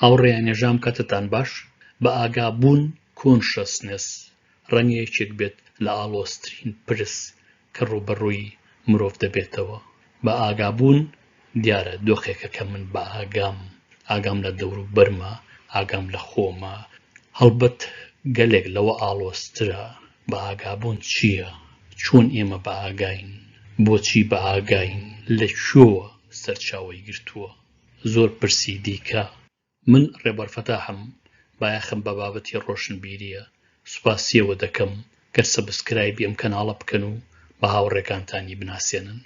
هاوڕێ ئەنێژام کەتتان باش بە ئاگا بوون کۆنشەسنێس ڕەنگە یەکێک بێت لە ئاڵۆزترین پرس کە ڕووبەڕووی مرۆڤ دەبێتەوە بە ئاگا بوون دیارە دۆخێکە کە من بە ئاگام ئاگام لە دەوروبەرمە ئاگام لە خۆمە هەڵبەت گەلێک لەوە ئاڵۆزترە بە ئاگا بوون چییە چۆن ئێمە بە ئاگاین بۆچی بە ئاگاین لە کوێوە سەرچاوەی گرتووە زۆر پرسی دیکە. من ڕێبەر فەتاحم بایەخم بە بابەتی ڕۆشنبیریە سوپاسیەوە دەکەم گەر سەبسکرایبی ئەم کەناڵە بکەن و بە هاوڕێکانتانی بناسێنن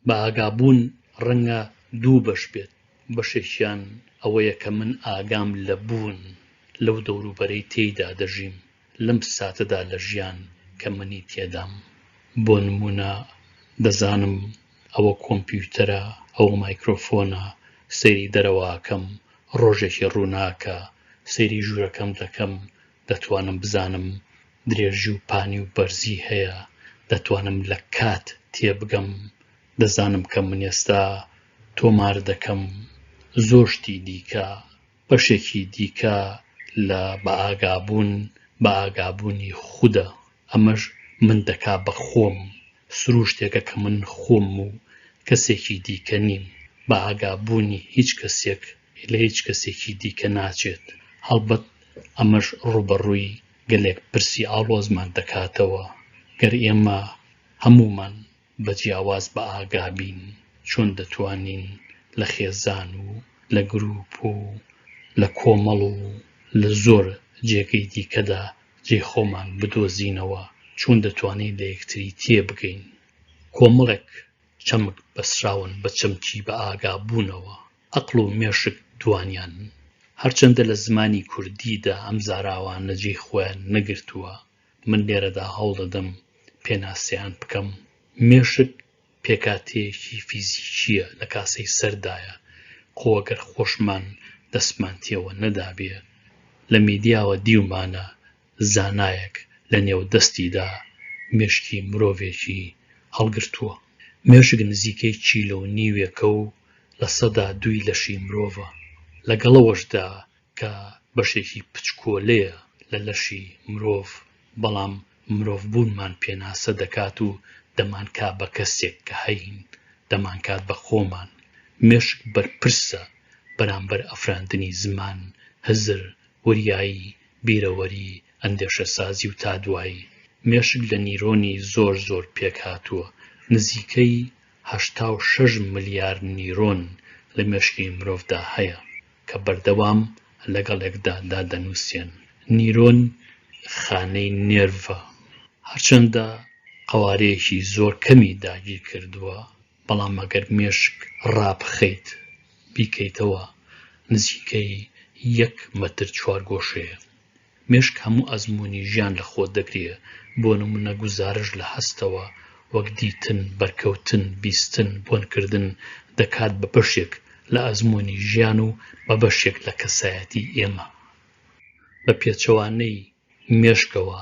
بە ئاگابوون ڕەنگە دوو بەش بێت بەشێکیان ئەوەیە کە من ئاگام لە بوون لەو دەوروبەرەی تێیدا دەژیم لەم ساتەدا لە ژیان کە منی تێدام بۆ نموونە دەزانم ئەوە کۆمپیوتەرە ئەوە مایکرۆفۆنە سەیری دەرەواکەم ڕۆژێکی ڕووناکە سەیری ژوورەکەم دەکەم دەتوانم بزانم درێژی و پانی و بەرزی هەیە دەتوانم لە کات تێبگەم دەزانم کە من ئێستا تۆمار دەکەم زۆر شتی دیکە بەشێکی دیکە لە بەئاگابوون بەئاگابوونی خودە، ئەمەش من دەکا بە خۆم، سرووشتێکە کە من خۆمم و کەسێکی دیکە نیم، بەئاگابوونی هیچ کەسێک لە هیچ کەسێکی دیکە ناچێت، هەڵبەت ئەمەش ڕووبەڕووی گەلێک پرسی ئاڵۆزمان دەکاتەوە، گەر ئێمە هەموومان بە جیاواز بە ئاگا بین چۆن دەتوانین لە خێزان و لە گرووپ و لە کۆمەڵ و لە زۆر جێگەی دیکەدا جێی خۆمان بدۆزینەوە، چۆن دەتوانین لە یەکتری تێبگەین. کۆمەڵێک چەمک بەستراون بە چەمکی بە ئاگا بوونەوە، ئەقڵ و مێشک دووانیانن. هەرچەندە لە زمانی کوردیدا ئەم زاراوانە جێی خۆیان نەگرتووە، من لێرەدا هەوڵ دەدەم پێناسەیان بکەم، مێشک پێکهاتەیەکی فیزیکییە لە کاسەی سەردایە، خۆ ئەگەر خۆشمان دەستمان تێوە نەدابێ، لە میدیاوە دیومانە زانایەک لە نێو دەستیدا مێشکی مرۆڤێکی هەڵگرتووە. مێشک نزیکەی کیلۆ و نیوێکە و لە سەدا دووی لەشی مرۆڤە، لەگەڵ ئەوەشدا کە بەشێکی پچکۆلەیە لە لەشی مرۆڤ، بەڵام مرۆڤ بوونمان پێناسە دەکات و دەمانکا بە کەسێک کە هەین، دەمانکات بە خۆمان. مێشک بەرپرسە بەرامبەر ئەفراندنی زمان، هزر، وریایی، بیرەوەری، ئەندێشەسازی و تا دوایی. مێشک لە نیرۆنی زۆر زۆر پێکهاتووە، نزیکەی هەشتا و شەش ملیار نیرۆن لە مێشکی مرۆڤدا هەیە، کە بەردەوام لەگەڵ یەکدا دادەنووسێن. نیرۆن خانەی نێرڤە، هەرچەندە قەوارەیەکی زۆر کەمی داگیر کردووە، بەڵام ئەگەر مێشک ڕابخەیت بیکەیتەوە نزیکەی یەک مەتر چوارگۆشەیە. مێشک هەموو ئەزموونی ژیان لە خۆ دەگرێ، بۆ نموونە گوزارش لە هەستەوە، وەک دیتن، بەرکەوتن، بیستن، بۆنکردن، دەکات بە بەشێک لە ئەزموونی ژیان و بە بەشێک لە کەسایەتی ئێمە. بە پێچەوانەی مێشکەوە،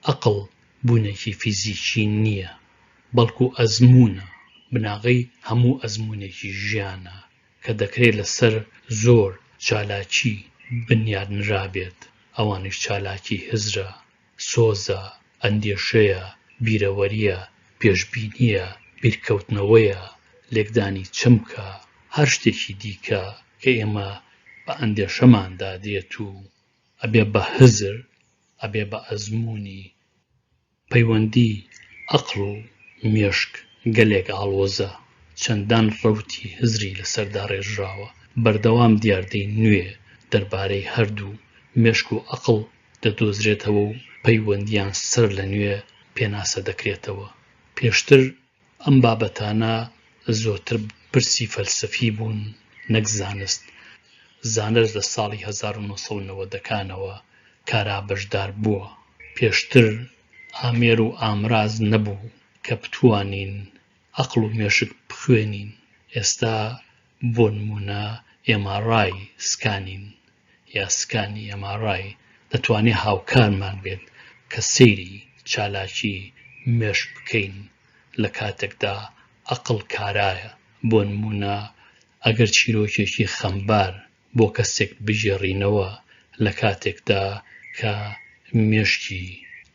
ئەقڵ بوونێکی فیزیکی نییە، بەڵکوو ئەزموونە، بناغەی هەموو ئەزموونێکی ژیانە، کە دەکرێت لەسەر زۆر چالاکی بنیات نرابێت، ئەوانیش چالاکی هزرە، سۆزە، ئەندێشەیە، بیرەوەرییە، پێشبینییە، بیرکەوتنەوەیە، لێکدانی چەمکە، هەر شتێکی دیکە کە ئێمە بە ئەندێشەماندا دێت و ئەبێ بە هزر، ئەبێ بە ئەزموونی. پەیوەندی ئەقڵ و مێشک گەلێک ئاڵۆزە، چەندان ڕەوتی هزری لەسەر داڕێژراوە، بەردەوام دیاردەی نوێ دەربارەی هەردوو مێشک و ئەقڵ دەدۆزرێتەوە و پەیوەندییان سەرلەنوێ پێناسە دەکرێتەوە، پێشتر ئەم بابەتانە زۆرتر پرسی فەلسەفی بوون نەک زانست، زانست لە ساڵی هەزار و نۆ سەد و نەوەدەکانەوە کارا بەشدار بووە، پێشتر ئامێر و ئامراز نەبوو کە بتوانین ئەقڵ و مێشک بخوێنین، ئێستا بۆ نموونە MRI سکانین یا سکانی ئێم ئاڕ ئای دەتوانێت هاوکارمان بێت کە سەیری چالاکی مێشک بکەین لە کاتێکدا ئەقڵ کارایە، بۆ نموونە ئەگەر چیرۆکێکی خەمبار بۆ کەسێک بگێڕینەوە لە کاتێکدا کە مێشکی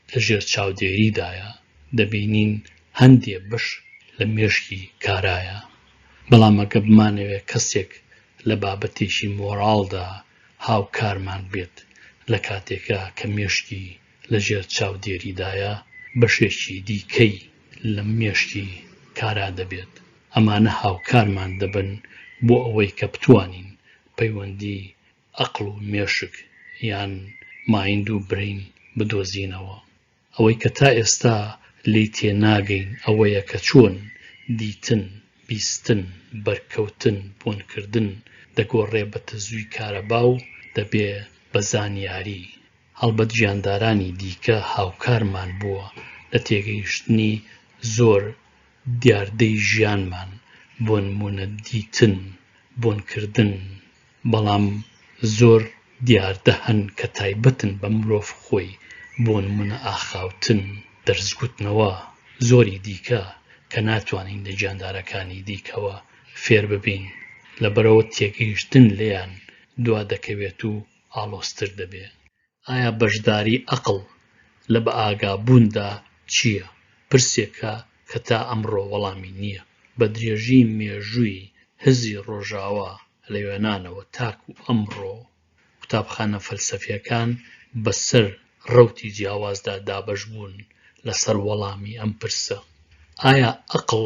لە ژێر چاودێریدایە دەبینین هەندێ بەش لە مێشکی کارایە، بەڵام ئەگەر بمانەوێت کەسێک لە بابەتێکی مۆراڵدا هاوکارمان بێت لە کاتێکا کە مێشکی لە ژێر چاودێریدایە، بەشێکی دیکەی لە مێشکی کارا دەبێت، ئەمانە هاوکارمان دەبن بۆ ئەوەی کە بتوانین پەیوەندی ئەقڵ و مێشک یان Mind و Brain بدۆزینەوە. ئەوەی کە تا ئێستا لێی تێناگەین ئەوەیە کە چۆن دیتن، بیستن، بەرکەوتن، بۆنکردن دەگۆڕێ بە تەزووی کارەبا و دەبێ بە زانیاری. هەڵبەت گیاندارانی دیکە هاوکارمان بووە لە تێگەیشتنی زۆر دیاردەی ژیانمان، بۆ نموونە دیتن، بۆنکردن، بەڵام زۆر دیاردە هەن کە تایبەتن بە مرۆڤ خۆی بۆ نمونە ئاخاوتن، دەرسگوتنەوە زۆری دیکە کە ناتوانین لە گیاندارەکانی دیکەوە فێر ببین لەبەرئەوە تێگەیشتن لێیان دوا دەکەوێت و ئاڵۆزتر دەبێت. ئایا بەشداری ئەقڵ لە بەئاگابووندا چییە؟ پرسێکە کە تا ئەمڕۆ وەڵامی نییە. بە درێژی مێژووی هزری ڕۆژاوا لە یۆنانەوە تاکوو ئەمڕۆ، قوتابخانە فەلسەفییەکان بە سەر ڕەوتی جیاوازدا دابەش بوون لە سەر وەڵامی ئەم پرسە. ئایا ئەقڵ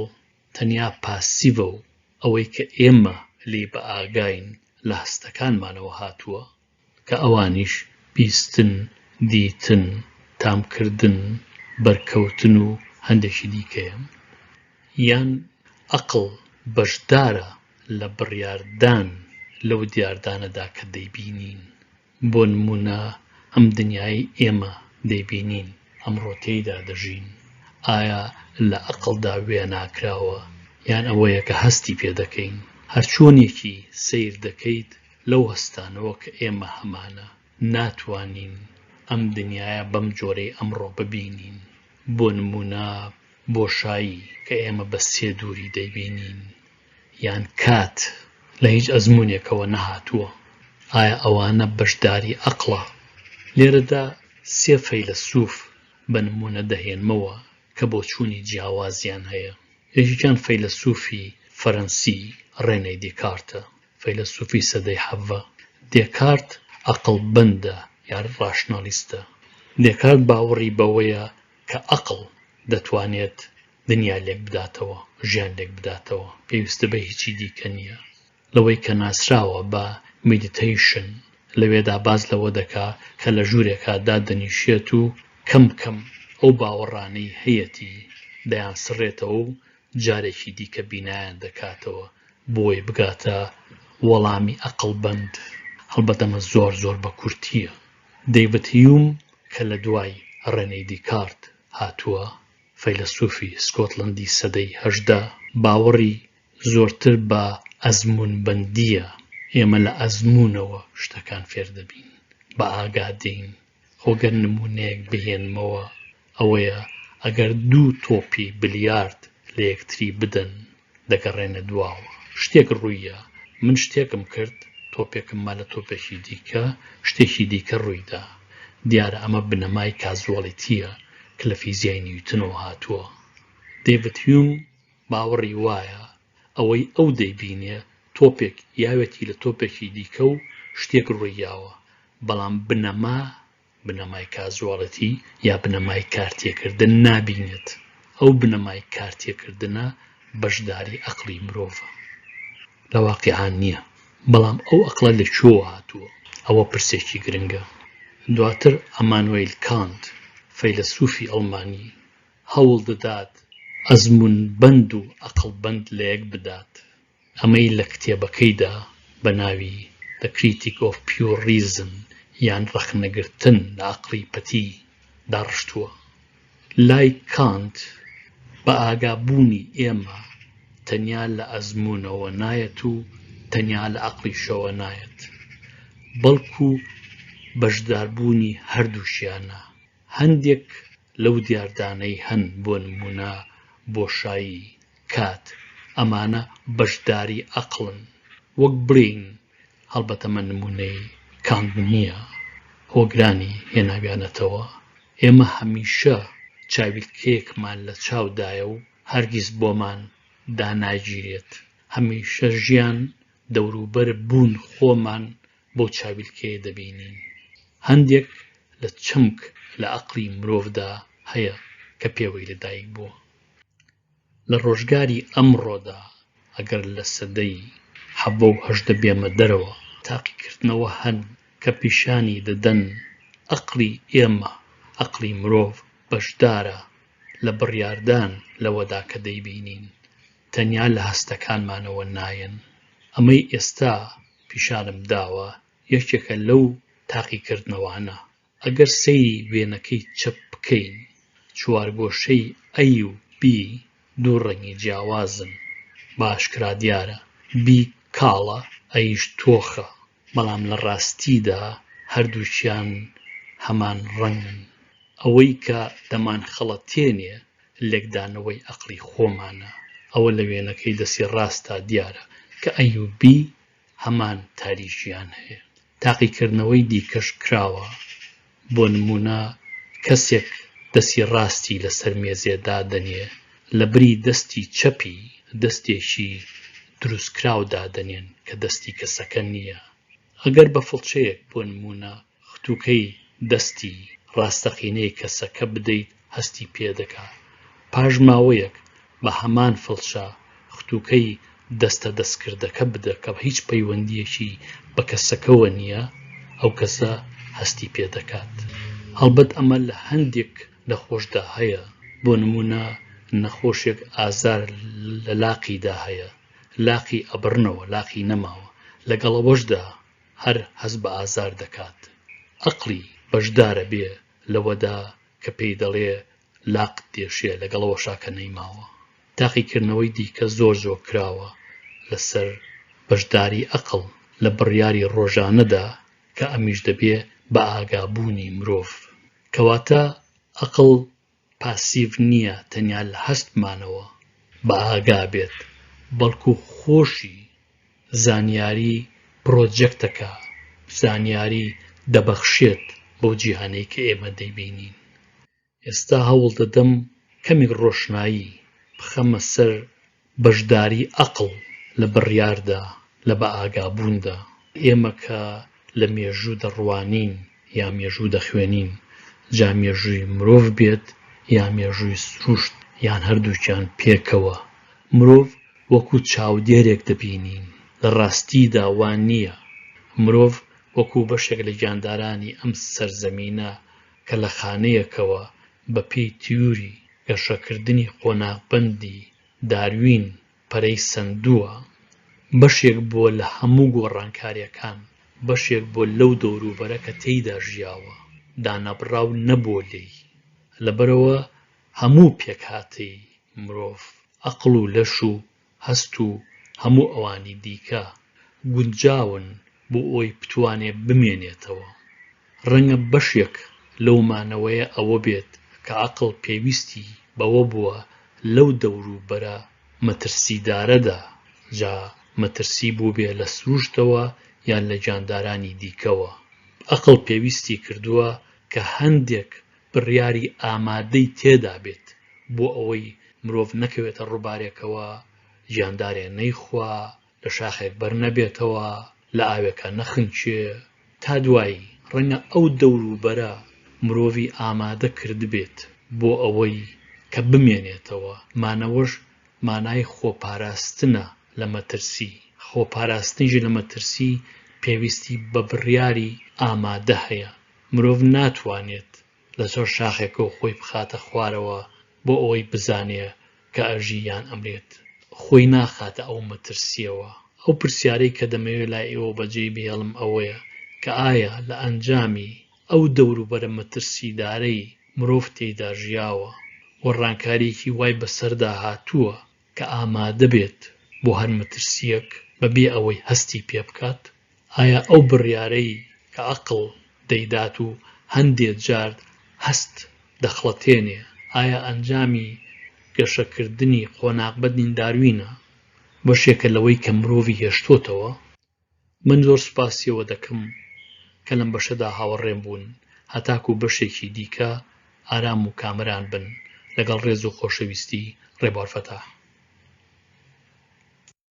تەنیا پاسیڤە و ئەوەی کە ئێمە لێی بەئاگاین لە هەستەکانمانەوە هاتووە؟ کە ئەوانیش بیستن، دیتن، تامکردن، بەرکەوتن و هەندێکی دیکەیەن. یان ئەقڵ بەشدارە لە بڕیاردان لەو دیاردانەدا کە دەیبینین. بۆ نموونە ئەم دنیایەی ئێمە دەیبینین، ئەمڕۆ تێیدا دەژین، ئایا لە ئەقڵدا وێناکراوە یان ئەوەیە کە هەستی پێدەکەین؟ هەرچۆنێکی سەیر دەکەیت، لەو هەستانەوە کە ئێمە هەمانە، ناتوانین ئەم دنیایە بەم جۆرەی ئەمڕۆ ببینین، بۆ نموونە بۆشایی کە ئێمە بە سێ دووری دەیبینین، یان کات لە هیچ ئەزموونێکەوە نەهاتووە، ئایا ئەوانە بەشداری ئەقڵە؟ لێرەدا سێ فەیلەسووف بە نموونە دەهێنمەوە کە بۆچوونی جیاوازیان هەیە، یەکێکیان فەیلەسووفی فەرەنسی ڕێنێ دیکارتە، فەیلەسوفی سەدەی حەڤە دێکارت ئەقڵبەندە یا ڕاشنالیستە. دێکارت باوەڕی بەوەیە کە ئەقڵ دەتوانێت دنیا لێک بداتەوە، ژیان لێک بداتەوە، پێویستە بە هیچی دیکە نییە. لەوەی کە ناسراوە بە میدیتەیشن، لەوێدا باس لەوە دەکا کە لە ژوورێکا دادەنیشێت و کەم کەم ئەو باوەڕانەی هەیەتی دەیانسڕێتەوە و جارێکی دیکە بینایان دەکاتەوە بۆی بگاتە وەڵامی ئەقڵ بەند هەڵبەت ئەمە زۆر زۆر بە کورتییە دەیبت هیوم کە لە دوای ڕێنەی دیکارت هاتووە فەیلەسوفی سکۆتلندی سەدەی هەژدە باوەڕی زۆرتر بە ئەزمون بەندیە ئێمە لە ئەزمونەوە شتەکان فێر دەبین بە ئاگادین خۆ گەر نموونەیەک بهێنمەوە ئەوەیە ئەگەر دوو تۆپی بلیارد لە یەکتری بدەن دەگەڕێنە دواوە شتێک ڕوویە من شتێکم کرد تۆپێکم ما لە تۆپێکی دیکە شتێکی دیکە ڕوویدا دیارە ئەمە بنەمای کازوەڵیتیە کە لە فیزیای نیوتنەوە هاتووە دەیڤد هیوم باوەڕی وایە ئەوەی ئەو دەیبینێ تۆپێک یاوێتی لە تۆپێکی دیکە و شتێک ڕوویاوە بەڵام بنەما، بنەمای کازواڵێتی یا بنەمای کارتێکردن نابینێت، ئەو بنەمای کارتێکردنە بەشداری ئەقڵی مرۆڤە لە واقیعا نییە، بەڵام ئەو ئەقڵە لە کوێوە هاتووە؟ ئەوە پرسێکی گرنگە. دواتر ئەمانوەیل کانت، فەیلەسوفی ئەڵمانی، هەوڵ دەدات ئەزموونبەند و ئەقڵبەند لەیەک بدات. ئەمەی لە کتێبەکەیدا بە ناوی The Critique of Pure Reason یان ڕەخنەگرتن لە ئەقڵی پەتی داڕشتووە. لای کانت بە ئاگابوونی ئێمە تەنیا لە ئەزموونەوە نایەت و تەنیا لە ئەقڵیشەوە نایەت، بەڵکو بەشداربوونی هەردووکیانە. هەندێک لەو دیاردانەی هەن بۆ نموونە بۆشایی، کات، ئەمانە بەشداری ئەقڵن، وەک برین، هەڵبەتە من نموونەی کانت نییە، هۆگرانی هێناویانەتەوە، ئێمە هەمیشە چاویلکەیەکمان لە چاو دایە و هەرگیز بۆمان داناگیرێت، هەمیشە ژیان، دەوروبەر، بوون، خۆمان بەو چاویلکەیە دەبینین. هەندێک لە چەمک لە ئەقڵی مرۆڤدا هەیە کە پێوەی لە دایک بووە. لە ڕۆژگاری ئەمڕۆدا ئەگەر لە سەدەی حەڤە و هەژدە بێمە دەرەوە، تاقیکردنەوە هەن کە پیشانی دەدەن ئەقڵی ئێمە، ئەقڵی مرۆڤ بەشدارە لە بڕیاردان لەوەدا کە دەیبینین، تەنیا لە هەستەکانمانەوە نایەن. ئەمەی ئێستا پیشانم داوە یەکێکە لەو تاقیکردنەوانە. ئەگەر سەیری وێنەکەی چەپ بکەین چوارگۆشەی A و B دوو ڕەنگی جیاوازن بە ئاشکرا دیارە B کاڵە A یش تۆخە بەڵام لە ڕاستیدا هەردووکیان هەمان ڕەنگن ئەوەی کە دەمانخەڵەتێنێ لێکدانەوەی ئەقڵی خۆمانە ئەوە لە وێنەکەی دەستی ڕاستا دیارە کە A و B هەمان تاریکییان هەیە. تاقیکردنەوەی دیکەش کراوە، بۆ نموونە کەسێک دەستی ڕاستی لەسەر مێزێ دادەنێ، لەبری دەستی چەپی دەستێکی دروستکراو دادەنێن کە دەستی کەسەکە نییە. ئەگەر بە فڵچەیەک بۆ نموونە ختوکەی دەستی ڕاستەقینەی کەسەکە بدەیت هەستی پێدەکا پاش ماوەیەک بە هەمان فڵچە ختوکەی دەستە دەستکردەکە بدە کە هیچ پەیوەندیەکی بە کەسەکەوە نییە ئەو کەسە هەستی پێدەکات هەڵبەت ئەمە لە هەندێک نەخۆشدا هەیە بۆ نمونە نەخۆشێک ئازار لە لاقیدا هەیە لاقی ئەبڕنەوە لاقی نەماوە لەگەڵ ئەوەشدا هەر هەست بە ئازار دەکات. ئەقڵی بەشدارە بێ لەوەدا کە پێی دەڵێ لاقت دێشێ لەگەڵەوەشا کە نەیماوە. تاقیکردنەوەی دیکە زۆر زۆر کراوە لەسەر بەشداری ئەقڵ لە بڕیاری ڕۆژانەدا کە ئەمیش دەبێ بە ئاگابوونی مرۆڤ. کەواتە ئەقڵ پاسیڤ نییە تەنیا لە هەستمانەوە بەئاگا بێت، بەڵکو خۆشی زانیاری پرۆجەکتەکە زانیاری دەبەخشێت بەو جیهانەی کە ئێمە دەیبینین. ئێستا هەوڵدەدەم کەمێک ڕۆشنایی بخەمە سەر بەشداری ئەقڵ لە بڕیاردا، لە بەئاگابووندا. ئێمە کە لە مێژوو دەڕوانین یا مێژوو دەخوێنین، جا مێژووی مرۆڤ بێت یا مێژووی سروشت یان هەردووکیان پێکەوە، مرۆڤ وەکوو چاودێرێک دەبینین. لە ڕاستیدا وا نییە. مرۆڤ وەکوو بەشێک لە گیاندارانی ئەم سەرزەمینە کە لە خانەیەکەوە بەپێی تیوری گەشەکردنی قۆناغبەندی داروین پەرەی سەندووە، بەشێک بووە لە هەموو گۆڕانکارییەکان، بەشێک بووە لەو دەوروبەرە کە تێیدا ژیاوە، دانەبڕاو نەبووە لێی. لەبەرئەوە هەموو پێکهاتەی مرۆڤ، ئەقڵ و لەش و هەست و هەموو ئەوانی دیکە گونجاون بۆ ئەوەی بتوانێ بمێنێتەوە. ڕەنگە بەشێک لەو مانەوەیە ئەوە بێت کە عەقڵ پێویستی بەوە بووە لەو دەوروبەرە مەترسیدارەدا، جا مەترسی بووبێ لە سروشتەوە یان لە گیاندارانی دیکەوە، عەقڵ پێویستی کردووە کە هەندێک بڕیاری ئامادەی تێدا بێت بۆ ئەوەی مرۆڤ نەکەوێتە ڕووبارێکەوە، گیاندارێ نەیخوا، لە شاخێک بەر نەبێتەوە، لە ئاوێکا نەخنکێ. تا دوایی، ڕەنگە ئەو دەوروبەرە مرۆڤی ئامادە کردبێت بۆ ئەوەی کە بمێنێتەوە، مانەوەش مانای خۆپاراستنە لە مەترسی، خۆپاراستنیش لە مەترسی پێویستی بە بڕیاری ئامادە هەیە. مرۆڤ ناتوانێت لەسەر شاخێکەوە خۆی بخاتە خوارەوە بۆ ئەوەی بزانێ کە ئەژی یان ئەمرێت. خۆی ناخاتە ئەو مەترسییەوە. ئەو پرسیارەی کە دەمەوێ لای ئێوە بەجێی بهێڵم ئەوەیە کە ئایا لە ئەنجامی ئەو دەوروبەرە مەترسیدارەی مرۆڤ تێیدا ژیاوە و ڕانکارییەکی وای بەسەردا هاتووە کە ئامادە بێت بۆ هەر مەترسییەک بە بێ ئەوەی هەستی پێ بکات، ئایا ئەو بڕیارەی کە عەقڵ دەیدات و هەندێ جار هەست دەخڵەتێنێ، ئایا ئەنجامی گەشەکردنی قۆناغبەدنی داروینە، بەشێکە لەوەی کە مرۆڤی هێشتۆتەوە؟ من زۆر سوپاسی ئەوە دەکەم کە لەم بەشەدا هاوەڕێم بوون، هەتاکوو بەشێکی دیکە ئارام و کامەران بن، لەگەڵ ڕێز و خۆشەویستی، ڕێبوار فەتاح.